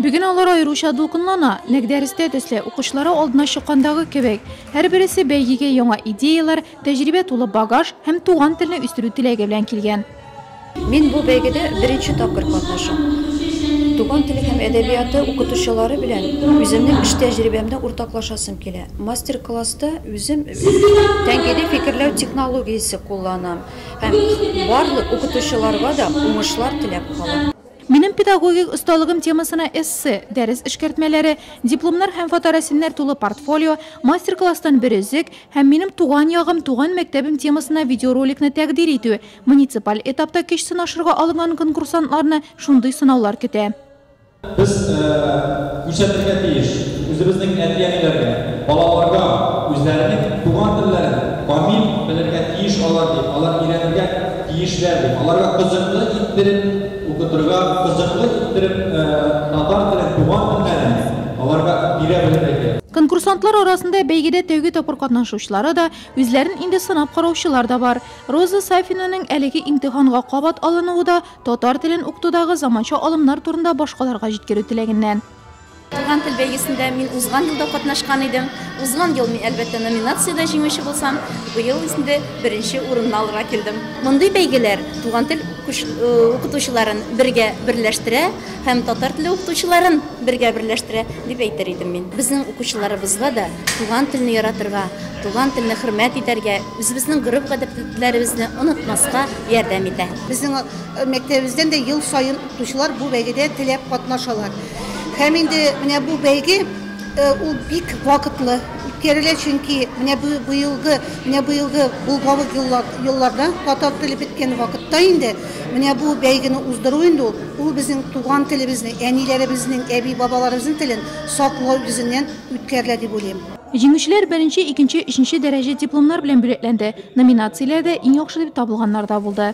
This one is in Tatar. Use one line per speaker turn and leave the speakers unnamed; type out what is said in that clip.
Бүген алар аеруча дулкынлана. Нәкъ дәрестә төсле, укучылары алдына чыккандагы кебек. Һәрбересе бәйгегә яңа идеяләр, тәҗрибә тулы багаж һәм туган телне үстерү теләге белән килгән. Мин бу
бәйгедә беренче тапкыр катнашам. Туган теле һәм әдәбияты укытучылары белән үземнең эш тәҗрибәмне уртаклашасым килә. Мастер-класста үзем тәнкыйди фикерләү технологиясе кулланам һәм барлык укытучыларга да уңышлар теләп калам. Минем педагогик
осталыгым темасына эссе, дәрес эшкәртмәләре, дипломнар һәм фоторәсемнәр тулы портфолио, мастер-класстан бер өзек һәм Минем туган ягым, туган мәктәбем темасына видеороликны тәкъдир итү, муниципаль этапта көч сынашырга алынган конкурсантларны шундый сынаулар көтә. Без
Күрсәтергә тиеш, үзебезнең әти-әниләргә, балаларга үзләренең туган телләрен камил белергә тиеш алар дип, алар өйрәнергә тиешләр дип, аларга кызыклы иттереп укытырга, кызыклы иттереп татар телен, туган телләрен аларга бирә белергә кирәк. Конкурсантлар арасында
бәйгедә тәүге тапкыр катнашучылары да, үзләрен инде сынап караучылар да бар. Роза Сафинанең әлеге имтиханга кабат алынуы да, Татар телен укытудагы заманча алымнар турында башкаларга җиткерү теләгеннән. Туган тел
бәйгесендә мин узган елда катнашкан идем. Узган ел мин, әлбәттә, номинациядә җиңүче булсам, быел инде беренче урынны алырга килдем. Мондый бәйгеләр туган тел укытучыларын бергә берләштерә һәм татар теле укытучыларын бергә берләштерә, дип әйтер идем мин. Безнең укучыларыбызга да туган телне яратырга, туган телне хөрмәт итәргә, үзебезнең гореф-гадәтләребезне онытмаска ярдәм итә. Безнең
мәктәбебездән дә ел саен укытучылар бу бәйгедә теләп катнашалар. Һәм инде менә бу бәйге ул бик вакытлы үткәрелә, чөнки менә бу быелгы, менә быелгы булгавык елларда татар теле беткән вакытта инде менә бу бәйгене уздыру инде ул, ул безнең туган телебезне, әниләребезнең, әби-бабаларыбызның телен саклау йөзеннән үткәрелә дип уйлыйм. Җиңүчеләр беренче,
икенче, өченче дәрәҗә дипломнар белән бүләкләнде. Номинацияләрдә иң яхшы дип табылганнар да булды.